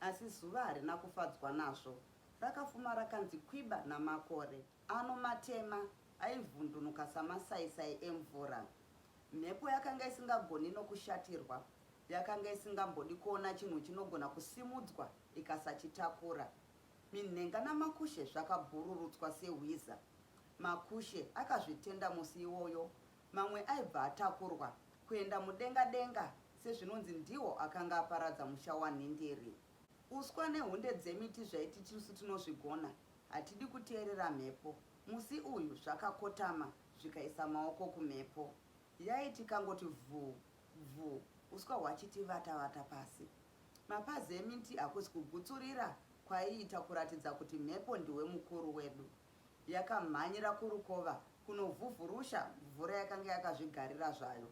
Asi zuva harina kufadzwa nazvo. Rakafuma rakanzi kwiba namakore ano matema aivhundunuka samasaisai emvura. Mhepo yakanga isingagoni nokushatirwa yakanga isingambodi kuona chinhu chinogona kusimudzwa ikasachitakura. Minhenga namakushe zvakabhururutswa sehwiza. Makushe akazvitenda musi iwoyo Mamwe aibva atakurwa kuenda mudenga denga sezvinonzi ndiwo akanga aparadza musha waNhindiri. Uswa nehunde dzemiti zvaiti tisu tinozvigona, hatidi kuteerera mhepo. Musi uyu zvakakotama zvikaisa maoko kumhepo. Yaiti ikangoti vhuu vhuu uswa hwachiti vata vata pasi. Mapazi emiti hakusi kugutsurira kwaiita kuratidza kuti mhepo ndiwe mukuru wedu. yakamhanyira kurukova kunovhuvhurusha mvura yakange yakazvigarira zvayo.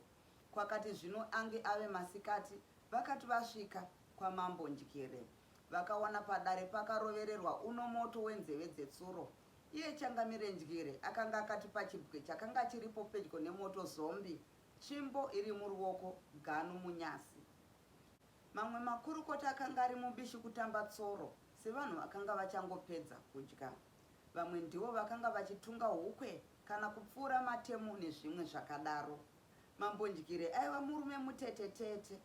Kwakati zvino ange ave masikati vakati vasvika kwaMambo Ndyire vakawana padare pakarovererwa uno moto wenzeve dzetsuro. Iye Changamire Ndyire akanga akati pachibwe chakanga chiripo pedyo nemoto zombi tsvimbo iri muruoko ganu munyasi. Mamwe makurukota akanga ari mubishi kutamba tsoro. Sevanhu vakanga vachangopedza kudya, vamwe ndivo vakanga vachitunga hukwe kana kupfuura matemo nezvimwe zvakadaro. Mambo Ndyire aiva murume mutetetete,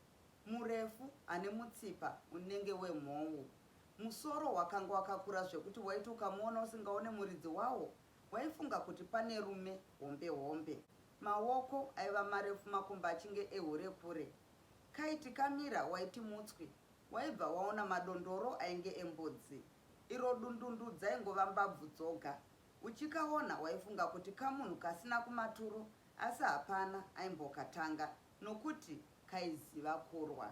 murefu, ane mutsipa unenge wemhou. Musoro wakanga wakakura zvekuti waiti ukamuona usingaone muridzi wawo waifunga kuti pane rume hombe hombe. Maoko aiva marefu makumbo achinge ehure kure. Kaiti kamira waiti mutswi Waibva waona madondoro ainge embudzi iro dundundu dzaingova mbabvu dzoga. Uchikaona waifunga kuti kamunhu kasina kumaturo asi hapana aimbokatanga nokuti kaiziva kurwa.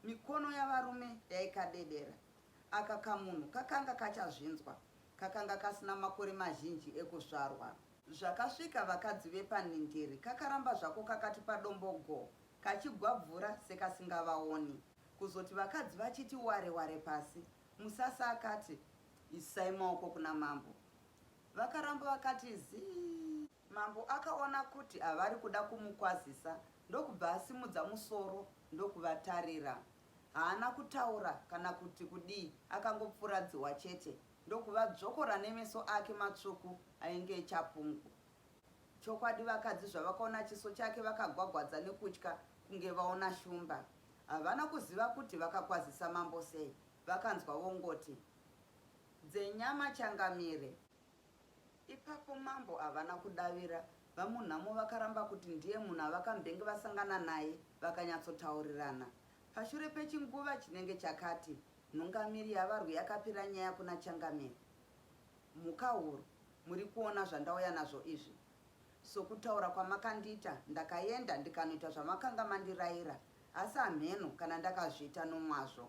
Mikono yavarume yaikadedera. Aka kamunhu kakanga kachazvinzwa, kakanga kasina makore mazhinji ekuzvarwa. Zvakasvika vakadzi vepanhindiri kakaramba zvako kakati padombo go kachigwabvura sekasingavaoni. Kuzoti vakadzi vachiti ware ware pasi, Musasa akati, Isai maoko kuna mambo. Vakaramba vakati zii. Mambo akaona kuti havari kuda kumukwazisa ndokubva asimudza musoro ndokuvatarira. Haana kutaura kana kuti kudii akangopfuradziwa chete ndokuvadzvokora nemeso ake matsvuku ainge echapungu. Chokwadi vakadzi zvavakaona chiso chake vakagwagwadza nekutya kunge vaona shumba. Havana kuziva kuti vakakwazisa mambo sei. Vakanzwa vongoti, Dzenyama changamire! Ipapo mambo havana kudavira. VaMunhamo vakaramba kuti ndiye munhu avakambenge vasangana naye vakanyatsotaurirana. Pashure pechinguva chinenge chakati, nhungamiri yavarwi yakapira nyaya kuna changamire. Mhukahuru muri kuona zvandauya nazvo izvi? Sokutaura kwamakandiita ndakaenda ndikanoita zvamakanga mandiraira asi hamheno kana ndakazviita nomwazvo.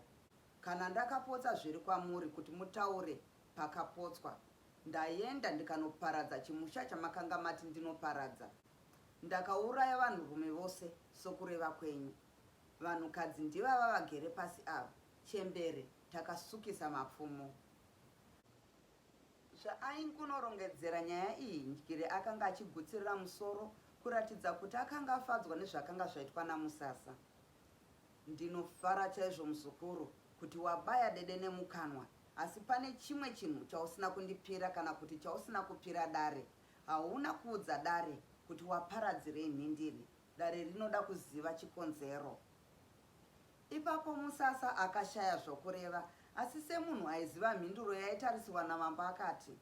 Kana ndakapotsa zviri kwamuri kuti mutaure pakapotswa, ndaenda ndikanoparadza chimusha chamakanga mati ndinoparadza. Ndakauraya vanhurume vose sokureva kwenyu. Vanhukadzi ndivava vagere pasi ava, chembere takasukisa mapfumo. Zvaaingunorongedzera nyaya iyi, Ndyire akanga achigutsirira musoro kuratidza kuti akanga afadzwa nezvakanga zvaitwa naMusasa. Ndinofara chaizvo muzukuru kuti wabaya dede nemukanwa asi pane chimwe chinhu chausina kundipira kana kuti chausina kupira dare. Hauna kuudza dare kuti waparadzirei nhindiri. Dare rinoda kuziva chikonzero. Ipapo Musasa akashaya zvokureva asi semunhu aiziva mhinduro yaitarisirwa naMambo akati,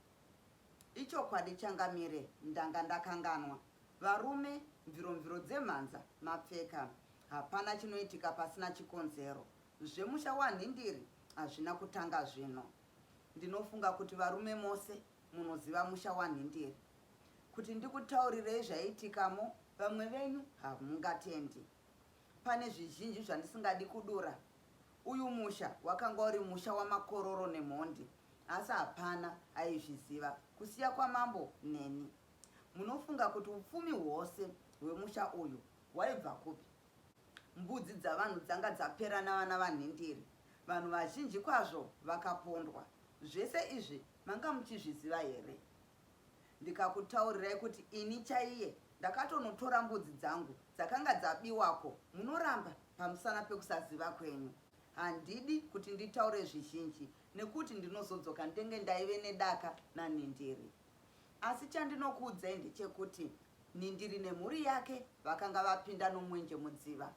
Ichokwadi Changamire, ndanga ndakanganwa. Varume, mviromviro dzemhanza, mapfeka. Hapana chinoitika pasina chikonzero. Zvemusha waNhindiri hazvina kutanga zvino. Ndinofunga kuti varume mose munoziva musha waNhindiri. Kuti ndikutaurirei zvaiitikamo vamwe venyu hamungatendi. Pane zvizhinji zvandisingadi kudura. Uyu musha wakanga uri musha wamakororo nemhondi asi hapana aizviziva kusiya kwamambo neni. Munofunga kuti upfumi hwose hwemusha uyu hwaibva kupi? Mbudzi dzavanhu dzanga dzapera navana vanhindiri. Vanhu vazhinji kwazvo vakapondwa. Zvese izvi manga muchizviziva here? Ndikakutaurirai kuti ini chaiye ndakatonotora mbudzi dzangu dzakanga dzabiwako munoramba pamusana pekusaziva kwenyu. Handidi kuti nditaure zvizhinji nekuti ndinozodzoka ndenge ndaive nedaka naNhindiri. Asi chandinokuudzai ndechekuti Nhindiri nemhuri yake vakanga vapinda nomwenje mudziva.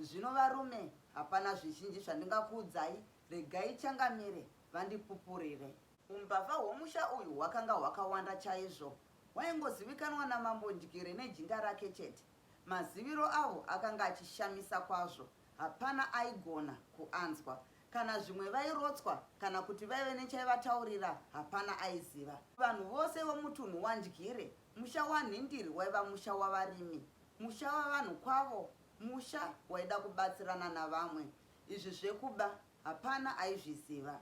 Zvino varume hapana zvizhinji zvandingakuudzai regai changamire vandipupurire. Umbavha hwomusha uyu hwakanga hwakawanda chaizvo. Hwaingozivikanwa naMambo Ndyire nejinda rake chete. Maziviro avo akanga achishamisa kwazvo, hapana aigona kuanzwa. Kana zvimwe vairotswa kana kuti vaive nechaivataurira hapana aiziva. Vanhu vose vomutunhu waNdyire, musha waNhindiri waiva musha wavarimi, musha wavanhu kwavo, musha waida kubatsirana navamwe. Izvi zvekuba hapana aizviziva.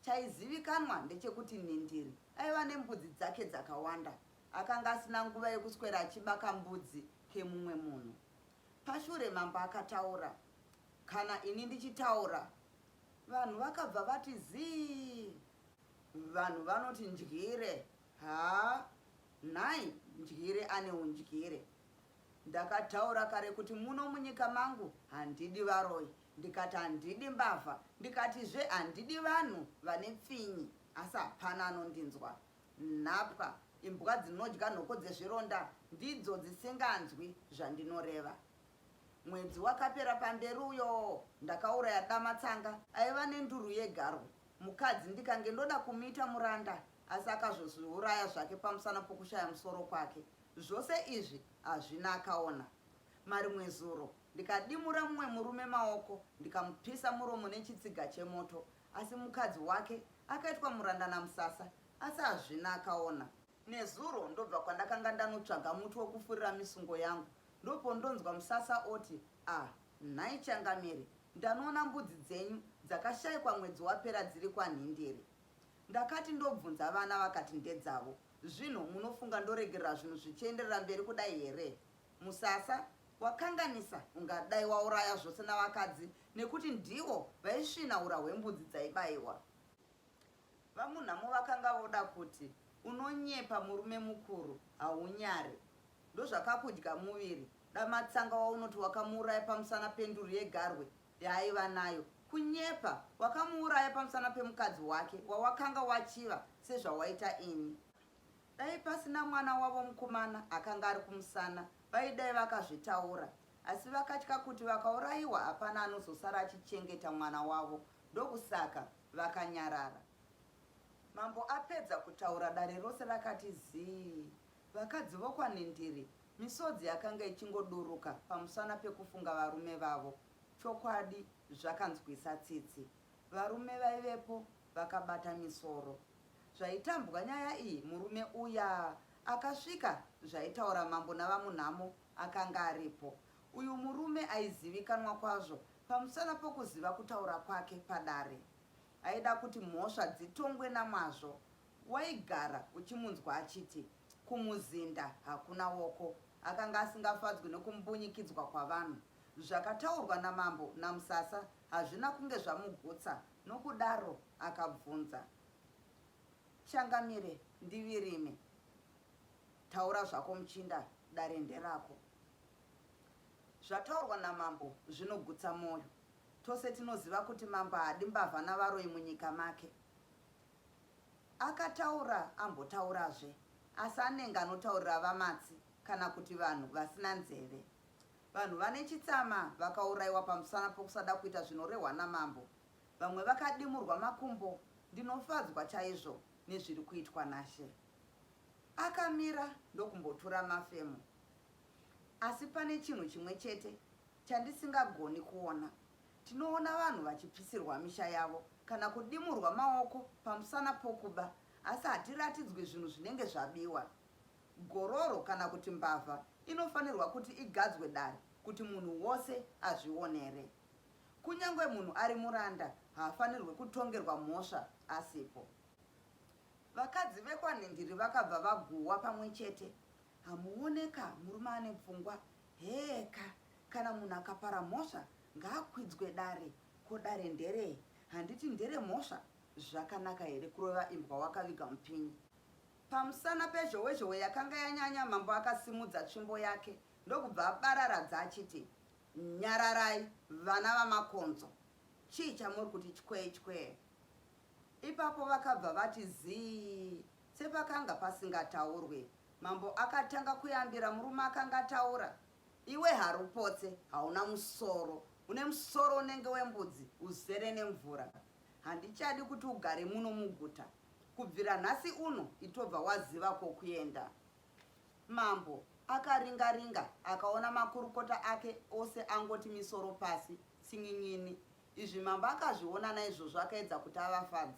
Chaizivikanwa ndechekuti Nhindiri aiva nembudzi dzake dzakawanda. Akanga asina nguva yekuswera achiba kambudzi kemumwe munhu. Pashure mambo akataura, kana ini ndichitaura vanhu vakabva vati zii. Vanhu vanoti ndyire. Haa nhai ndyire ane undyire. Ndakataura kare kuti muno munyika mangu handidi varoyi. Ndikati handidi mbavha ndikatizve handidi vanhu vane pfinyi asi hapana anondinzwa. Nhapwa imbwa dzinodya nhoko dzezvironda ndidzo dzisinganzwi zvandinoreva. Mwedzi wakapera pamberi uyoo ndakauraya dama tsanga aiva nenduru yegarwe mukadzi ndikange ndoda kumuita muranda asi akazozviuraya zvake pamusana pokushaya musoro kwake. Zvose izvi hazvina akaona. Marimwezuro. ndikadimura mumwe murume maoko ndikamupisa muromo nechitsiga chemoto asi mukadzi wake akaitwa muranda namusasa asi hazvina akaona. Nezuro ndobva kwandakanga ndanotsvaga muti wokufurira misungo yangu ndopondonzwa musasa oti, Ah nhai Changamire, ndanoona mbudzi dzenyu dzakashaikwa mwedzi wapera dziri kwanhindiri. Ndakati ndobvunza vana vakati ndedzavo. Zvino munofunga ndoregerera zvinhu zvichienderera mberi kudai here? Musasa wakanganisa ungadai wauraya zvose navakadzi nekuti ndivo vaisvina ura hwembudzi dzaibaiwa. VaMunhamo vakanga voda kuti unonyepa murume mukuru haunyare ndozvakakudya muviri dama tsanga waunoti wakamuuraya pamusana penduru yegarwe yaaiva nayo kunyepa wakamuuraya pamusana pemukadzi wake wawakanga wachiva sezvawaita ini. Dai pasina mwana wavo mukomana akanga ari kumusana vaidai vakazvitaura asi vakatya kuti vakaurayiwa hapana anozosara achichengeta mwana wavo ndokusaka vakanyarara. Mambo apedza kutaura dare rose rakati zii. Vakadzi vokwaNhindiri misodzi yakanga ichingoduruka pamusana pekufunga varume vavo. Chokwadi zvakanzwisa tsitsi. Varume vaivepo vakabata misoro zvaitambwa nyaya iyi murume uya akasvika zvaitaura mambo navamunhamo akanga aripo uyu murume aizivikanwa kwazvo pamusana pokuziva kutaura kwake padare aida kuti mhosva dzitongwe namwazvo waigara uchimunzwa achiti kumuzinda hakuna woko akanga asingafadzwi nekumbunyikidzwa kwavanhu zvakataurwa namambo namusasa hazvina kunge zvamugutsa Nokudaro akabvunza Changamire ndivirime. Taura zvako muchinda dare nderako. Zvataurwa namambo zvinogutsa moyo. Tose tinoziva kuti mambo haadi mbavha navaroyi munyika make. Akataura ambotaurazve asi anenge anotaurira vamatsi kana kuti vanhu vasina nzeve. Vanhu vane chitsama vakaurayiwa pamusana pokusada kuita zvinorehwa namambo. Vamwe vakadimurwa makumbo. Ndinofadzwa chaizvo nezviri kuitwa naShe. Akamira ndokumbotura mafemo. Asi pane chinhu chimwe chete chandisingagoni kuona. Tinoona vanhu vachipisirwa misha yavo kana kudimurwa maoko pamusana pokuba asi hatiratidzwi zvinhu zvinenge zvabiwa. Gororo kana kuti mbavha inofanirwa kuti igadzwe dare kuti munhu wose azvionere. Kunyangwe munhu ari muranda haafanirwe kutongerwa mhosva asipo. Vakadzi vekwaNhindiri vakabva vaguhwa pamwe chete. Hamuone ka, murume ane pfungwa. Hee ka, kana munhu akapara mhosva ngaakwidzwe dare. Ko dare nderei? Handiti nderemhosva? Zvakanaka here kurova imbwa wakaviga mupinyi? Pamusana pezhowezhowe yakanga yanyanya, mambo akasimudza tsvimbo yake ndokubva abararadza achiti, Nyararai, vana vaMakonzo! Chii chamuri kuti chkwee chkwee? Ipapo vakabva vati zii sepakanga pasingataurwe. Mambo akatanga kuyambira murume akanga ataura, Iwe harupotse, hauna musoro, une musoro unenge wembudzi uzere nemvura. Handichadi kuti ugare muno muguta, kubvira nhasi uno itobva waziva kwokuenda. Mambo akaringa ringa akaona makurukota ake ose angoti misoro pasi tsin'in'ini. Izvi mambo akazviona naizvozvo akaedza kuti avafadze.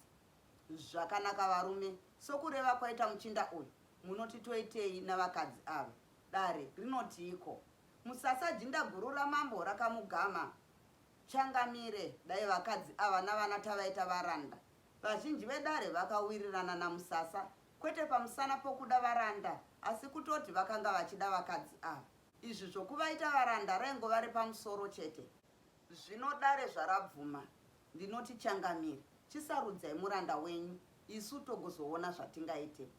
Zvakanaka varume, sokureva kwaita muchinda uyu, munoti toitei navakadzi ava? Dare rinotiiko? Musasa jinda guru ramambo rakamugama. Changamire, dai vakadzi ava navana tavaita varanda. Vazhinji vedare vakawirirana naMusasa kwete pamusana pokuda varanda asi kutoti vakanga vachida vakadzi ava. Izvi zvokuvaita varanda raingova repamusoro chete. Zvino dare zvarabvuma, ndinoti changamire, chisarudzai muranda wenyu isu togozoona zvatingaite.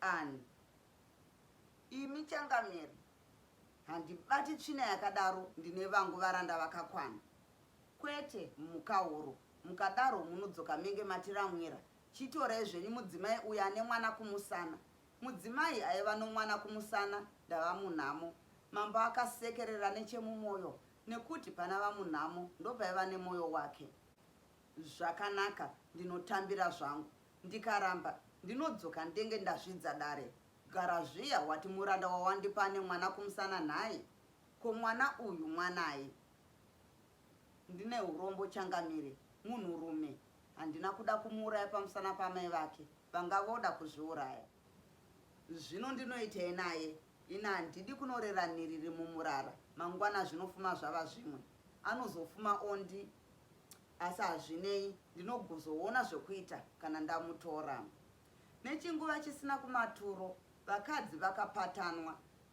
Ann. Imi changamire, handibati tsvina yakadaro ndine vangu varanda vakakwana. Kwete mhukahuru mukadaro munodzoka menge matiramwira chitorai zvenyu mudzimai uyo ane mwana kumusana Mudzimai aiva nomwana kumusana ndava munhamo Mambo akasekerera nechemumoyo nekuti pana vamunhamo ndopaiva nemoyo wake Zvakanaka ndinotambira zvangu ndikaramba ndinodzoka ndenge ndazvidza dare Gara zviya wati muranda wawandipa ane mwana kumusana nhai? Ko mwana uyu mwanai? Ndine urombo changamire munhu rume handina kuda kumuuraya pamusana pamai vake vanga voda kuzviuraya zvino ndinoitei naye ini handidi kunorera niriri mumurara mangwana zvinofuma zvava zvimwe anozofuma ondi asi hazvinei ndinoguzoona zvekuita kana ndamutora nechinguva chisina kumaturo vakadzi vakapatanwa